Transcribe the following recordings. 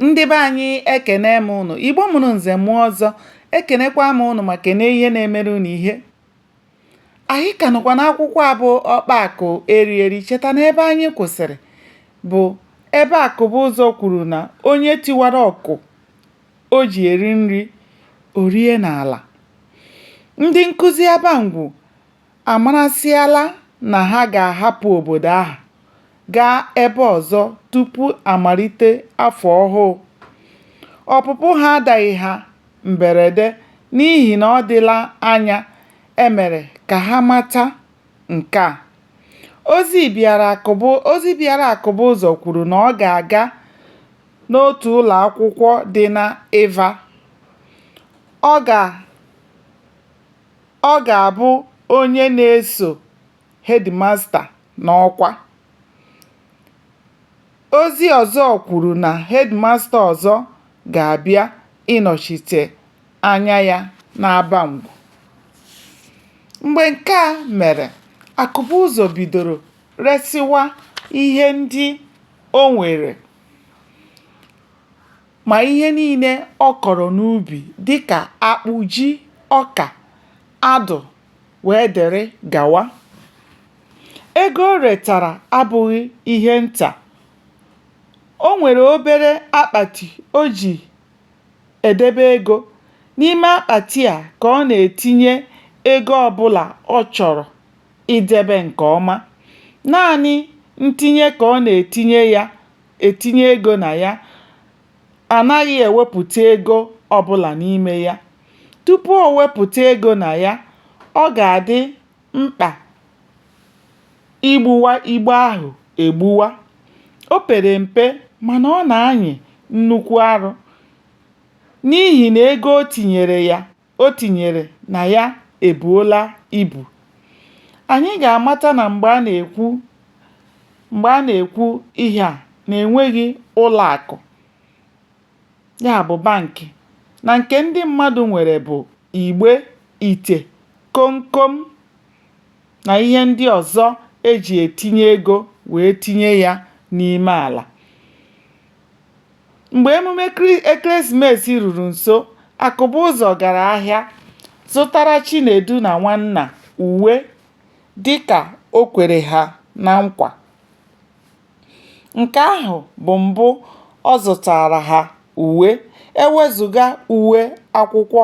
ndị be anyị ekene m unu igbo mụrụ nze mụọ ọzọ ekenekwa m unu ma kene ihe na-emere unu ihe anyị ka nọkwa n'akwụkwọ a bụ ọkpa akụ eri eri cheta na ebe anyị kwụsịrị bụ ebe akụbụzọ kwuru na onye tiwara ọkụ o ji eri nri o rie n'ala ndị nkụzi abangwu amarasịala na ha ga-ahapụ obodo ahụ gaa ebe ọzọ tupu a malite afọ ọhụụ. Ọpụpụ ha adaghị ha mberede n'ihi na ọ dịla anya e mere ka ha mata nke a. Ozi bịara Akụbụzọ kwuru na ọ ga-aga n'otu ụlọakwụkwọ dị n'Iva. Ọ ga Ọ ga-abụ onye na-eso hedịmasta n'ọkwa. Ozi ọzọ kwuru na hedịmasta ọzọ ga-abịa ịnọchite anya ya n'Abangwu. Mgbe nke a mere, Akụbụzọ bidoro resịwa ihe ndị o nwere. ma ihe niile ọ kọrọ n'ubi dịka akpụ, ji, ọka, adụ wee dere gawa. Ego o retara abụghị ihe nta. O nwere obere akpati o ji edebe ego. N'ime akpati a ka ọ na-etinye ego ọbụla ọ chọrọ idebe nke ọma. Naanị ntinye ka ọ na-etinye ya etinye ego na ya anaghị ewepụta ego ọbụla n'ime ya. Tupu o wepụta ego na ya, ọ ga-adị mkpa igbuwa igbe ahụ egbuwa. O pere mpe mana ọ na-anyị nnukwu arụ n'ihi na ego o tinyere ya o tinyere na ya ebuola ibu. Anyị ga-amata na mgbe a na-ekwu ihe a na enweghị ụlọakụ ya bụ bankị na nke ndị mmadụ nwere bụ igbe, ite, komkom na ihe ndị ọzọ e ji etinye ego wee tinye ya n'ime ala. Mgbe emume ekeresimesi ruru nso, Akụbụzọ gara ahịa zụtara Chinedu na Nwanna uwe dịka o kwere ha na nkwa. Nke ahụ bụ mbụ ọ zụtaara ha uwe, e wezụga uwe akwụkwọ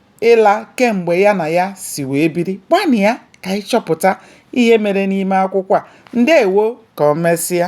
ịla kemgbe ya na ya si wee biri gbanịa ka anyị chọpụta ihe mere n'ime akwụkwọ a ndewo ka o mesịa